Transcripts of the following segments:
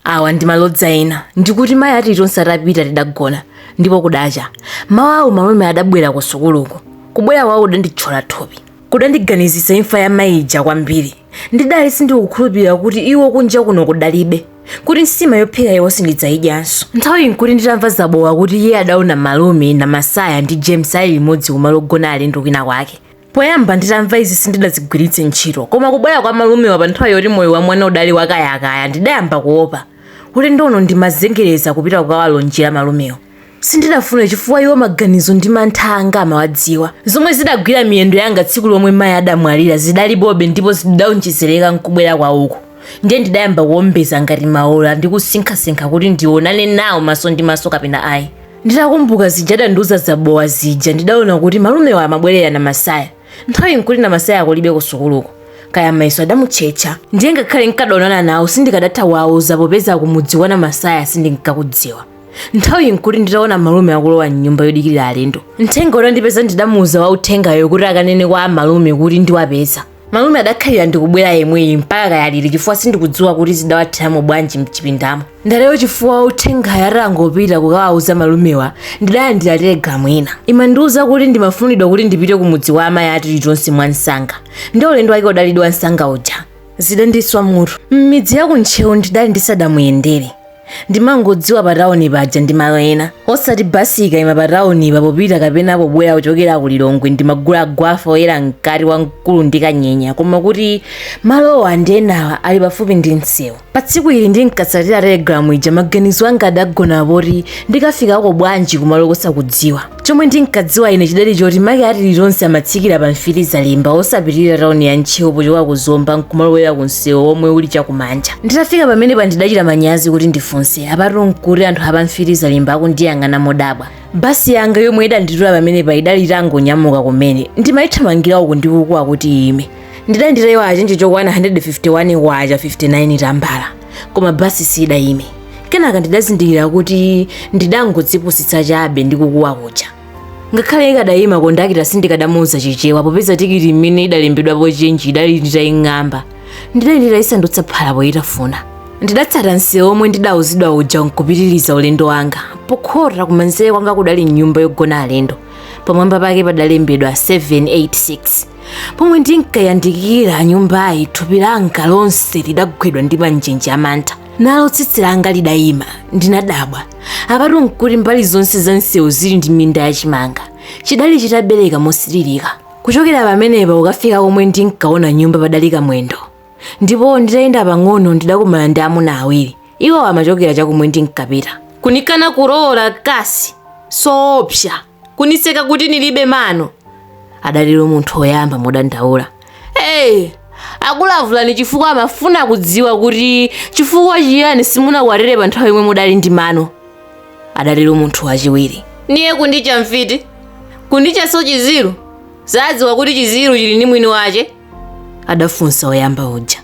awa ndi malodza ena ndikuti mayi a tilitonse atapita tidagona ndipo kudacha mawa awo malume adabwera ku sukuluko kubwera kwawo kudanditchola thupi kudandiganizitsa imfa ya mayi ija kwambiri ndidali sindikukhulupirira kuti iwo kunja kuno kudalibe kuti nsima yophika iwo sindidzayidyanso nthawiyi nkuti nditamva zabowa kuti iye adaona malume namasaya ndi james ali limodzi kumalo ogona alendo kwina kwake Poyamba nditamva izi sindidazigwiritse ntchito, koma kubwera kwa malumewa pa nthawi yoti moyo wa mwana udali wakayakaya ndidayamba kuopa. Ulendo uno ndimazengereza kupita kukawalonjera malumewo. Sindidafuna chifukwa iwo maganizo ndi mantha anga amawadziwa. Zomwe zidagwira miyendo yanga tsiku lomwe mayi adamwalira zidalipobe ndipo zidaonjezereka n'kubwera kwawoko. Ndiye ndidayamba kuombeza ngati maula ndi kusinkhasinkha kuti ndionane nawo maso ndi maso kapena ayi. nditakumbuka zija adandiuza zabowa zija ndidaona kuti malumewa amabwerera namasaya nthawiyi nkuti namasaya kulibe kusukuluko kaya mayeso adamutchetcha ndiye ngakhale nkadaonana nawo sindikadatha kuwauza popeza kumudzi kwa namasaya sindinkakudziwa nthawiyi nkuti nditaona malume akulowa mnyumba yodikirira alendo uthenga utandipeza ndidamuuza wa uthengayo kuti akanene kwa malume kuti ndiwapeza malume adakhalira ndikubwera yemweyi mpaka kaya liti chifukwa sindikudziwa kuti zidawatheramo bwanji mchipindamo ndatero chifukwa wa uthengayo atangopita kukawauza malumewa ndidalandira telegalamu ina imandiuza kuti ndimafunidwa kuti ndipite kumudzi kwa amayi a tilitonse mwa msanga ndi ulendo wake udalidi wa msanga uja zidandiswa mutu m'midzi ya ku ntcheu ndidali ndisadamuyendere ndimangodziwa pa tauni paja ndi malo ena osati basi ikayima pa taunipa popita kapena pobwera kuchokera ku lilongwe ndimagula gwafa oyera mkati wamkulu ndi kanyenya koma kuti malowa ndi enawa ali pafupi ndi msewu pa tsiku ili ndinkatsatira telegramu ija maganizo anga adagona poti ndikafikako bwanji kumalo kosakudziwa chomwe ndinkadziwa ine chidali choti make a tilitonse amatsikira pa mfiti zalimba osapitirira tauni ya ntcheu pochoka ku zomba nkumalowera ku msewu womwe uli chakumanja nditafika pamenepa ndidachita manyazi kuti ndifunse apatu nkuti anthu apa mfiti zalimba akundiyang'ana modabwa basi yanga yomwe idanditula pamenepa idali itangonyamuka kumene ndimayithamangira uku ndikukuwa kuti ime ndidali nditayiwala chenje chokwana 151 kwacha 59 tambala koma basi siidayime kenaka ndidazindikira kuti ndidangodzipusitsa chabe ndi kukuwa kuja ngakhale ikadayima kondakita sindikadamuuza chichewa popeza tikiti imene idalembedwapo chenji idali nditaying'amba ndidali nditayisandutsa phala poyitafuna ndidatsata msewu omwe ndidauzidwa uja nkupitiriza ulendo wanga pokhota kumanzere kwanga kudali nyumba yogona alendo pamwamba pake padalembedwa 786 pomwe ndinkayandikira nyumbayi thupi langa lonse lidagwidwa ndi manjenje amantha nalo tsitsi langa lidayima ndinadabwa apatu nkuti mbali zonse za msewu zili ndi minda ya chimanga chidali chitabereka mosiririka kuchokera pamenepa kukafika komwe ndinkaona nyumba padali kamwendo ndipo nditayenda pang'ono ndidakumana ndi amuna awiri iwo amachokera chakumwe ndinkapita kunikana kulowola kazi soopsa kuniseka kuti nilibe mano adalira munthu woyamba modandaula akulavulani chifukwa amafuna kudziwa kuti chifukwa chiyani simunakwatire pa nthawi yomwe mudali ndi mano adatero munthu wachiwiri niye kundicha mfiti kundichanso chiziru zadziwa kuti chiziru chili ndi mwini wache adafunsa woyamba uja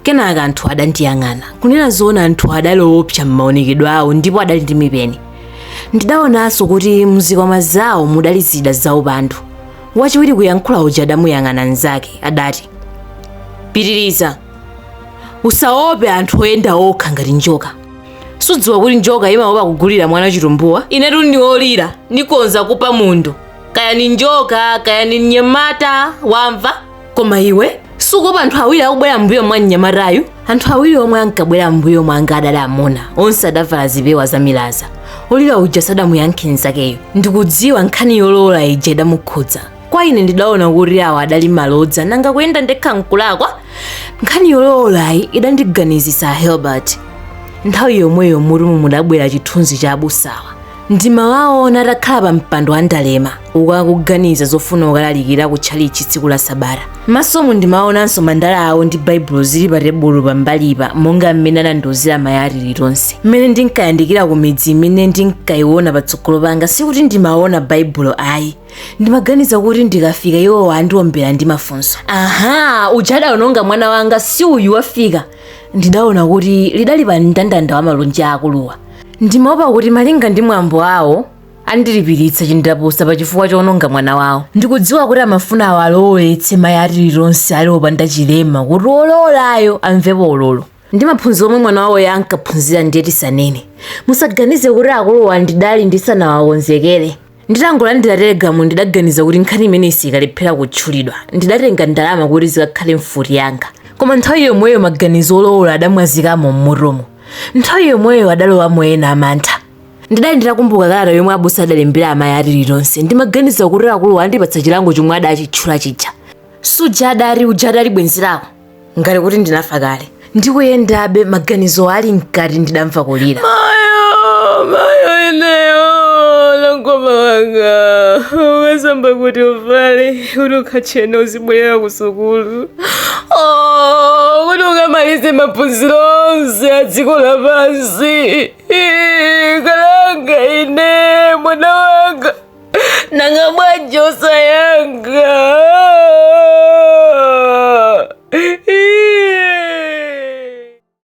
kenaka anthu adandiyang'ana kunena zoona anthu adali owopsa m'maonekedwe awo ndipo adali ndi mipeni ndidaonanso kuti mzikwama zawo mudali zida zaupandu wachiwiri kuyankhula uja adamuyang'ana mnzake adati pitiriza usaope anthu oyenda okha ngati njoka sudziwa kuti njoka imaopa kugulira mwana chitumbuwa inetu ni Olira nikhoza kupa munthu kaya ni njoka kaya ni mnyamata wamva koma iwe sukuopa anthu awiri akubwera mbuyo mwa mnyamatayu anthu awiri omwe ankabwera mbuyo mwanga adali amuna onse adavala zipewa za milaza olira uja sadamuyankhe nzakeyo ndikudziwa nkhani yolowola ija idamukhudza kwa ine ndidaona kuti awa adali malodza nanga kuyenda ndekha nkulakwa nkhani yolowolayi idandiganizisa helbert nthawi yomweyo m'mutumu mudabwera chithunzi cha abusawa Ndimawaona atakhala pa mpando wa ndalema uko akuganiza zofuna kukalalikira ku tchalitchi tsiku la Sabata. M'masomu ndimaonanso mandala awo ndi Baibulo zili pa tebulo pambalipa monga mmene anandiuzira mayi a Tilitonse. Mmene ndinkayandikira ku midzi imene ndinkayiona patsogolo panga sikuti ndimaona Baibulo ayi. Ndimaganiza kuti ndikafika iwowa andiombera ndi mafunso. Aha, uja adaononga mwana wanga si uyu wafika. Ndidaona kuti lidali pa mndandanda wa malonje a akuluwa. Ndimaopa kuti malinga ndi mwambo awo andilipiritsa chindapusa pa chifukwa choononga mwana wawo. Ndikudziwa kuti amafuna awalowoletse mayi a Tilitonse ali opanda chilema kuti wolowolayo amvepo ulolo. Ndi maphunziro omwe mwana wawoyo ankaphunzira ndiye tisanene. Musaganize kuti akuluwa ndidali ndisanawakonzekere. Nditangolandira telegramu ndidaganiza kuti nkhani imeneyi siyikalephera kutchulidwa. Ndidatenga ndalama kuti zikakhale mfuti yanga. Koma nthawi yomweyo maganizo olowola adamwazikamo m'mutumu. Nthawi yomweyo adalowamo ena a mantha. Ndidali nditakumbuka kalata yomwe abusa adalembera amayi a Tilitonse. Ndimaganiza kuti akuluwa andipatsa chilango chomwe adachitchula chija. Suja adati uja adali bwenzi lako? ngati kuti ndinafa kale ndikuyendabe maganizo ali mkati ndidamva kulira mayo mayo ineyo Nankhoma wanga ukasamba kuti uvale kuti ukatchena uzibwerera ku sukulu Oh, kuti ukamalize maphunziro onse a dziko lapansi Ih, kalanga ine mwana wanga nanga bwanji osayanga